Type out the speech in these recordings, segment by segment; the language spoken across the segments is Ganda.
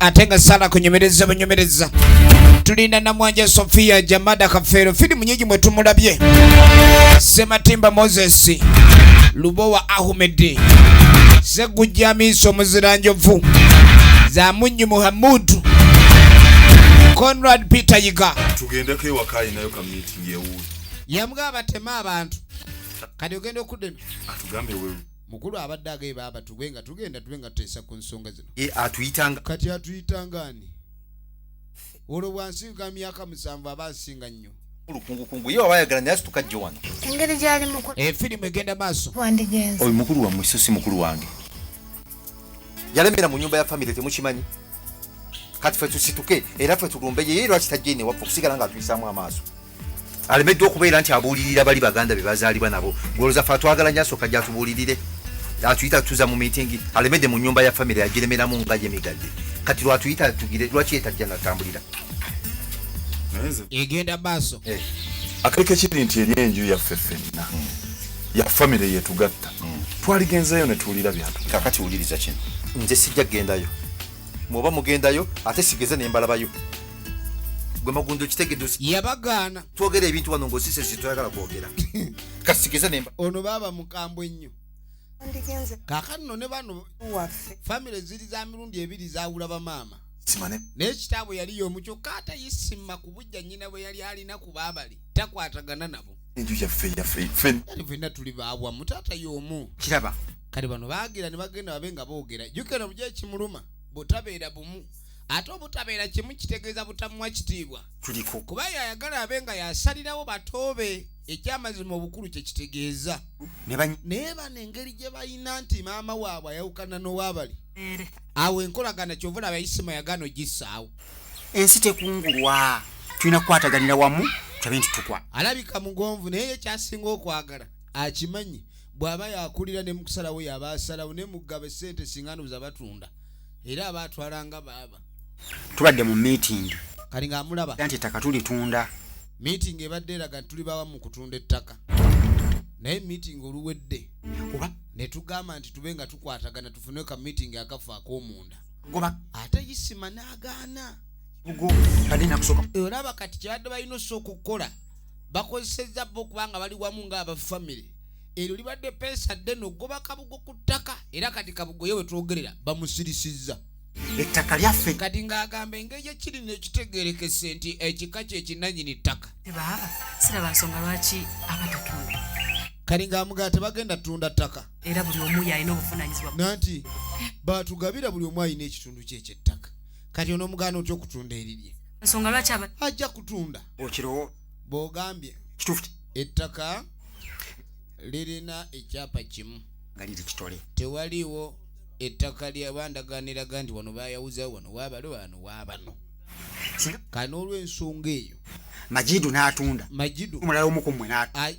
ate nga sala kunyumiriza bunyumiriza tulina namwanja sofia jamada kafeero firimu nyingi mwe tumulabye sematimba moses lubowa ahumedi segujja miiso muzira njovu zamunyi muhamudu conrad peter yiga tugendeko ewaka alinayo ka meeting ewuwe yamugaba batema abantu kati ogenda okudema atugambe wewe mukulu abadde agaye baaba tugwe nga tugenda tube nga tuteesa ku nsonga zino atuyitanga kati atuyitanga ani olwo bwansinga myaka musanvu aba nsinga nnyo olukungukungu ye waba ayagala naye asituka jjo wano engeri gyali mukulu efirimu eh, egenda maaso wandigenza oyo mukulu wammwe so si mukulu wange yalemera mu nyumba ya famire temukimanyi kati fe tusituke era fe tulumbe yeye lwaki tajja ine waffe okusigala nga atuyisaamu amaaso alemeddwa okubeera nti abuulirira bali baganda be bazaalibwa nabo gwoloza fe atwagala nyo asooka gyatubuulirire atuyita tutuza mu miitingi alemedde mu nyumba ya famire yagiremeramu nga ye migadde kati lwatuyita atugire lwaki yetajja natambulira egenda maaso eh. akaliko ekiri nti eri enju yaffe fenna hmm. ya famire yetugatta hmm. twaligenzeyo netuwulira byatu kakati wuliriza kino nze sijja kugendayo mwoba mugendayo ate sigeze nembalabayo gwe magundo kitegedde yabagaana twogera ebintu wano ng'osise zitwagala kwogera kasikize nemba ono baaba mukambwe ennyo ndigenze kaakati no ne bano waffe famire ziri za mirundi ebiri zaawula bamaama simane naye kitaabwe yali y'omu kyokka ate yisima ku bujja nnyina bwe yali alina ku baabali takwatagana nabo enju yaffe yaffe ffe yali fenna tuli baawamu taata y'omu kiraba kale bano baagira ne bagenda babe nga boogera jukira mu gyekimuluma bw'otabeera bumu ate obutabeera kimu kitegeeza butamuwa kitiibwa kuba yayagala abe nga yasalirawo batoobe ekyamazima obukulu kyekitegeeza naye bano engeri gye balina nti maama waabwe ayawukana n'owabali awo enkolagana kyova olaba isima yagano gisaawo ensi tekungulwa tulina kukwataganira wamu tulabe nti tukwa alabika mugonvu naye ye kyasinga okwagala akimanyi bw'aba yakulira ne mukusalawo yaba asalawo ne mugaba sente singa ndoza batunda era aba atwala nga baaba tubadde mu meeting kati ng'amulaba nti ettaka tulitunda meeting ebadde eraga nti tuli bawa mu kutunda ettaka naye meeting oluwedde kuba ne tugamba nti tube nga tukwatagana tufune ka meeting akafa ak'omunda goba ate isima n'agaana olaba kati kyabadde balina osa okukola bakozesezza bo kubanga bali wamu ng'abafamire eryo libadde peesa ddene okugoba kabugo ku ttaka era kati kabugo ye wetwogerera bamusirisizza ettaka lyaffe kati ng'agamba engeri gyekiri nekitegerekese nti ekika kyekinanyini ttaka baaba siraba nsonga lwaki abatatunda kali ng'amugala tebagenda tunda ttaka era buli omu yalina obuvunanyizibwa nanti batugabira buli omu alina ekitundu kye ekyettaka kati onomugaana otya okutunda erirye nsonga lwaki ajja kutunda okirowooza bwogambye kituufu ettaka lirina ekyapa kimu nga liri kitole tewaliwo ettaka lyabandagaaniraga nti wano bayawuzawo wano wabale wano wabano kale n'olwensonga eyo majidu n'atunda majidu omulala omu ku mmwe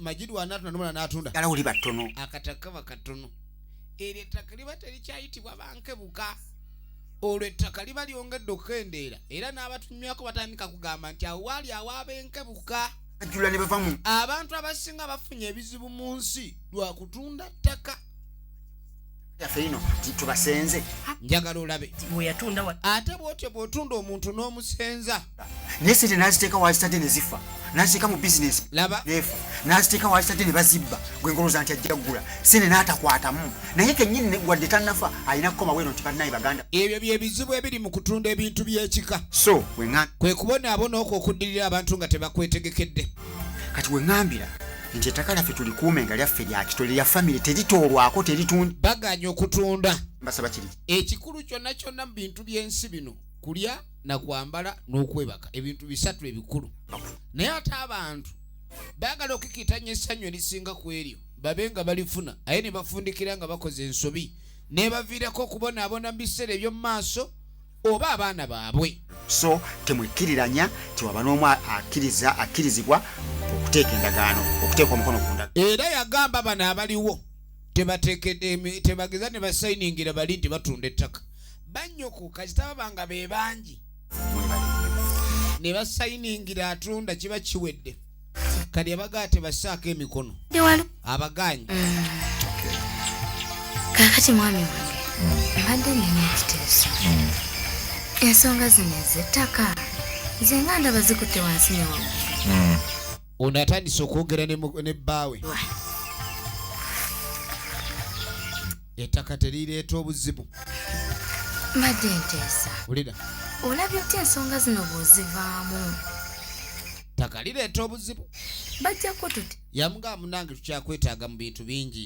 majidu wanaatunda nomulala n'atunda ala oli battono akataka kaba katono eryo ettaka liba terikyayitibwa bankebuka olwo ettaka liba lyongedde okukendeera era n'abatunywako batandika kugamba nti awo waali awaaba enkebuka ajula ne bavamu abantu abasinga bafunye ebizibu mu nsi lwa kutunda ttaka yaffe ino tubasenze njagala olabe ate bwotyo bwotunda omuntu n'omusenza naye sente naziteeka wazitadde ne zifa naziteeka mu bizinesi neefa naziteeka wazitadde ne bazibba gwe ngoloza nti ajja kugula sente n'atakwatamu naye kennyini negwadde tanafa alina kukoma bweno nti bannaye baganda ebyo bye bizibu ebiri mu kutunda ebintu by'ekika so weŋa kwe kubonaabona okwo okuddirira abantu nga tebakwetegekedde kati weŋambira nti ettaka lyaffe tulikuume nga lyaffe lyakito lya famire teritoolwako teritunda baganya okutunda mbasaba kiri ekikulu kyonna kyonna mu bintu by'ensi bino kulya na kwambala n'okwebaka ebintu bisatu ebikulu naye ate abantu baagala okukitanya essanyu erisinga ku eryo babe nga balifuna aye ne bafundikira nga bakoze ensobi nebaviirako okubonaabona mu biseera eby'omu maaso oba abaana baabwe so temwekkiriranya tiwaba n'omu akkiriza akkirizibwa okuteeka endagaano okuteeka omukono ku ndaga era yagamba bano abaliwo tebageza ne basayiningira bali nti batunda ettaka bannyoko kasita baba nga be bangi ne basayiningira atunda kiba kiwedde kati abagaa tebassaako emikono abagaanyi mm. kakati mwami wange mm. mbadde nina ekiteeso mm. ensonga zino ezettaka nze nga ndaba zikutte wansi newamu ono atandise okwogera ne bbaawe ettaka terireeta obuzibu mbadde nteesa wulira olabye otya ensonga zino bw'ozivaamu ttaka lireeta obuzibu bajjako tuti yamugamba munange tukyakwetaaga mu bintu bingi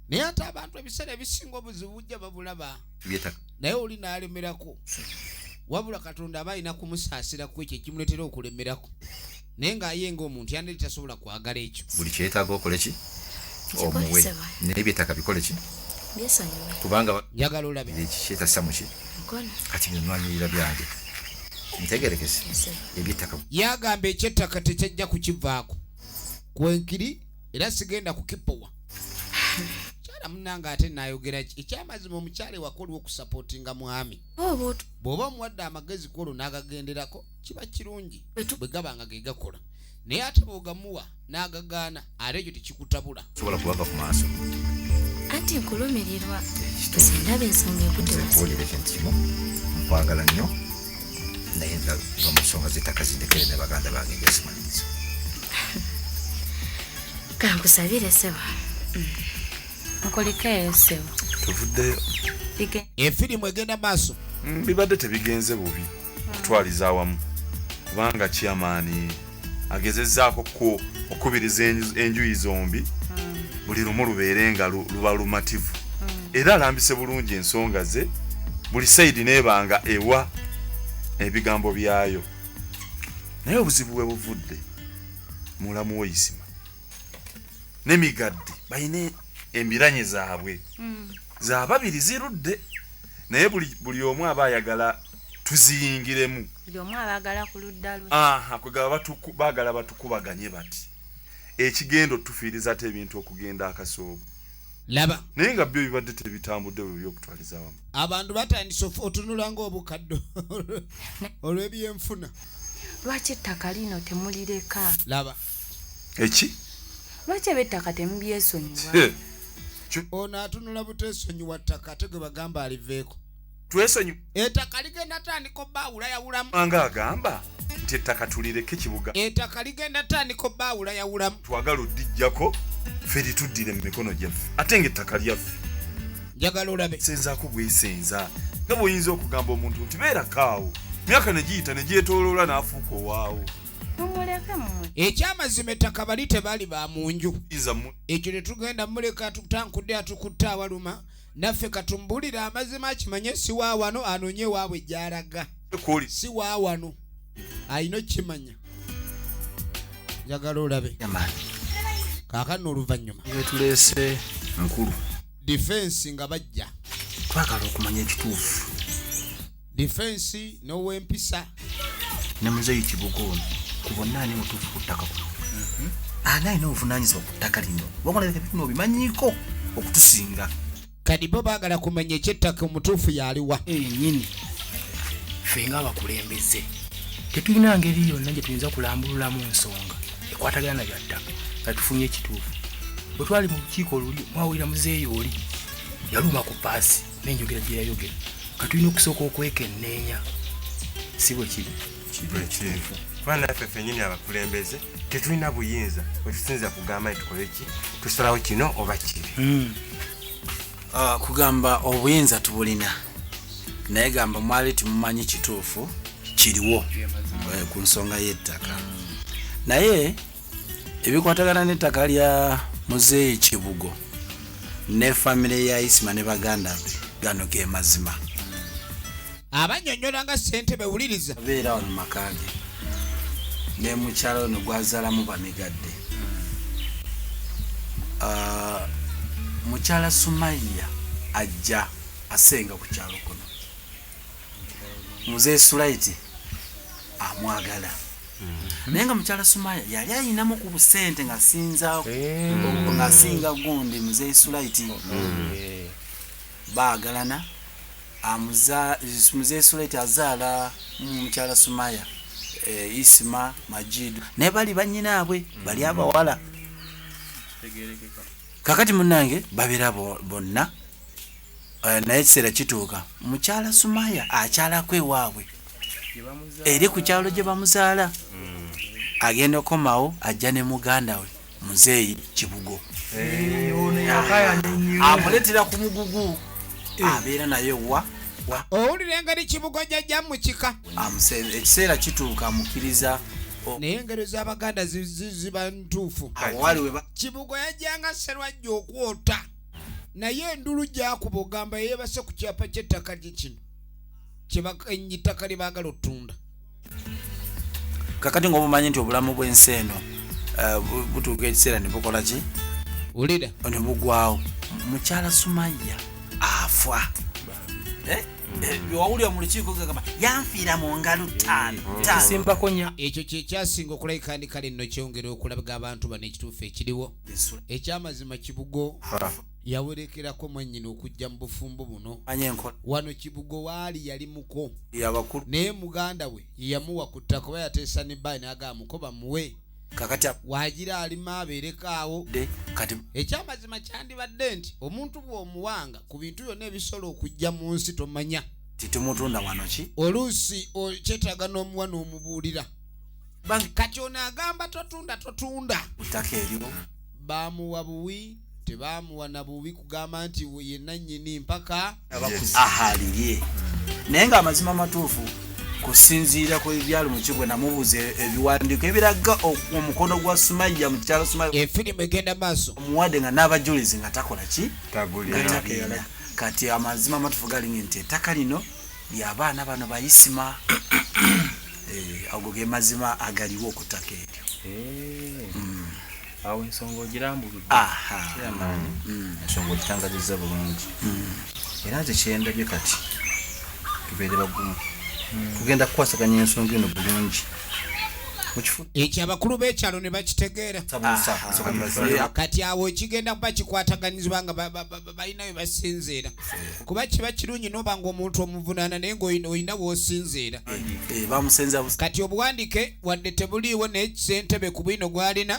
naye ate abantu ebiseera ebisinga obuzibu bujja babulaba naye oli n'alemerako wabula katonda aba alina kumusaasira ku ekyo ekimuleetera okulemerako naye ng'aye ng'omuntu yandiri tasobola kwagala ekyo buli kyetaaga okole ki omuwe naye byetaaga bikole ki kubanga njagala olabe ekikyetasa muki kati byonwanyirira byange ntegerekese ebyettaka yagamba ekyettaka tekyajja kukivaako kwenkiri era sigenda kukipowa kyala munange ate nayogera ki ekyamazima omukyala ewakoliwo okusapotinga mwami oh, bw'oba omuwadde amagezi kwolwo n'agagenderako kiba kirungi bwe gaba nga ge gakola naye ate bwogamuwa n'agagaana ate ekyo tekikutabula sobola kubava ku maaso anti nkulumirirwa sindaba ensonga ekutewakuwulira ekintu kimu nkwagala nnyo naye nva mu nsonga z'ettaka zindekere ne baganda bange njasimanyiza kankusabire sebo nkulikeeyo mm. sebo tuvuddeyo efirimu egenda maaso mm, bibadde tebigenze bubi okutwaliza awamu kubanga kiamaani agezezaako ku okubiriza enjuyi zombi hmm. buli lumu lubeere nga luba lumativu hmm. era alambise bulungi ensonga ze buli saidi nebanga ewa ebigambo byayo naye obuzibu bwe buvudde mulamu woyisima nemigadde balina embiranye zaabwe hmm. zababiri zirudde naye buli omu aba ayagala tuziyingiremu kwegaba bagala batukubaganye bati ekigendo tufiiriza ate ebintu okugenda akasoobo laba naye nga byo bibadde tebitambudde bwe byokutwaliza wamu abantu batandise otunula ngaobukaddo olw'ebyenfuna lwaki ettaka lino temulireka laba eki lwaki eb'ettaka temubyesonyiwa ono atunula butesonyiwa ttaka ate gwe bagamba aliveeko twesonyu ettaka ligenda tandika obbaawula yawulamu anga agamba nti ettaka tulireke kibuga ettaka ligenda tandika obbaawula yawulamu twagala oddijjako ffe lituddire mu mikono gyaffe ate nga ettaka lyaffe njagala olabe senzaako bwesenza nga bwoyinza okugamba omuntu nti beerakaawo myaka ne giyita ne gyetoloola n'afuuka owaawo ekyamazima ettaka bali tebaali ba mu nju ekyo tetugenda muleka tutankudde atukutte awaluma naffe katumbulire amazima akimanye siwaawano anoonye ewaabwe gyalaga siwaawano alina okukimanya njagala olabe kaakano oluvannyuma etuleese nkulu difensi nga bajja twagala okumanya ekituufu difensi n'owempisa ne muzeeyi kibuga ono ku bonna ani mutuufu ku ttaka kuno mhm. ani alina obuvunaanyizibwa ku ttaka lino wagonabino obimanyiiko okutusinga kadi bo baagala kumanya ekyettaka omutuufu yaliwa enyini ffe nga abakulembeze tetulina ngeri yonna gye tuyinza kulambululamu nsonga ekwatagana na byattaka nga tufunye ekituufu bwe twali mu lukiiko oluli mwawulira muzeeyi oli yaluma ku paasi nenjogera gye yayogera katulina okusooka okwekenneenya si bwe kiri kituufu kuba naffe fenyini abakulembeze tetulina buyinza wetusinza kugamba nti tukole ki tusalawo kino oba kiri hmm. ah, kugamba obuyinza tubulina naye gamba mwali timumanyi kituufu kiriwo eh, ku nsonga y'ettaka naye ebikwatagana n'ettaka lya muzeeyi kibugo ne famire ya isima ne baganda be gano ge mazima abanyonyola nga sente bewuliriza abeera wano makaage ne mukyalo ono gwazalamu bamigadde ah, mukyala sumaiya ajja asenga ku kyalo kuno muzee sulaiti amwagala mm-hmm. naye nga mukyala sumaya yali ayinamu ku busente ngasinza eh. ngasinga gundi muzeyi sulaiti mm-hmm. eh. bagalana muzeyi sulaiti azaala mukyala sumaya eh, isima majidu naye bali banyinaabwe mm-hmm. bali abawala kakati munange babera bonna naye ekiseera kituuka mukyala sumaya akyalako ewaabwe eri ku kyalo gye bamuzaala agenda okomawo ajja ne muganda we muzeeyi kibugo amuletera ku mugugu abeera naye wa owulira engeri kibugo jajja mu kika ekiseera kituuka amukiriza naye engeri z'abaganda ziba ntuufu kibugo yajjanga serwajja okwota naye endulu gyakuba ogamba yeyebase ku kyapa ky'ettaka gye kino kyebakenyi ttaka lye baagala otunda kakati ngaobumanyi nti obulamu bwensi eno eh, butuuka ekiseera ne bukola ki ulira ne bugwawo mukyala sumaya afwa eh? eh, wawulira mu lukiiko gagamba yanfiira mu ngalo taanosimbako nya ekyo kyekyasinga okulabika ndi kale nno kyongera okulaga abantu bano ekituufu ekiriwo ekyamazima kibugo yawerekerako mwannyina okujja mu bufumbo buno wano kibugo waali yali muko naye muganda we yeyamuwa ku ttaka oba yateesa ne bayi nagaa muko bamuwe wagira alima abeereko awo ekyamazima kyandibadde nti omuntu bw'omuwanga ku bintu byonna ebisobola okujja mu nsi tomanya titumutunda wano ki oluusi kyetaaga n'omuwa n'omubuulira kati ono agamba totunda totunda ttaka eryo bamuwa buwi tebaamuwa na bubi kugamba nti ye nannyini mpaka ahalirye naye nga amazima amatuufu kusinziira ku ebyalo mukibwe namubuuza ebiwandiiko ebiraga omukono gwa sumayya mu kikyalo sumayya efirimu egenda maaso omuwadde nga n'abajulizi nga takola ki tagulira kati amazima amatuufu galinga nti ettaka lino lyabaana bano bayisima eh, ago ge mazima agaliwo okutaka eryo eh. mm. awo ensonga ogirambuludde kyamaani mm. mm. ensonga ogitangazizza bulungi mm. era nze kyendabye kati tubeere bagumu tugenda kukwasaganya ensonga eno bulungi ekyo abakulu b'ekyalo ne bakitegeera kati awo ekigenda kuba kikwataganyizibwa nga balina we basinziira kuba kiba kirungi noba nga omuntu omuvunaana naye ngaolina wosinziira eh, eh, kati obuwandike wadde tebuliiwo naye kisentebe ku bwino gwalina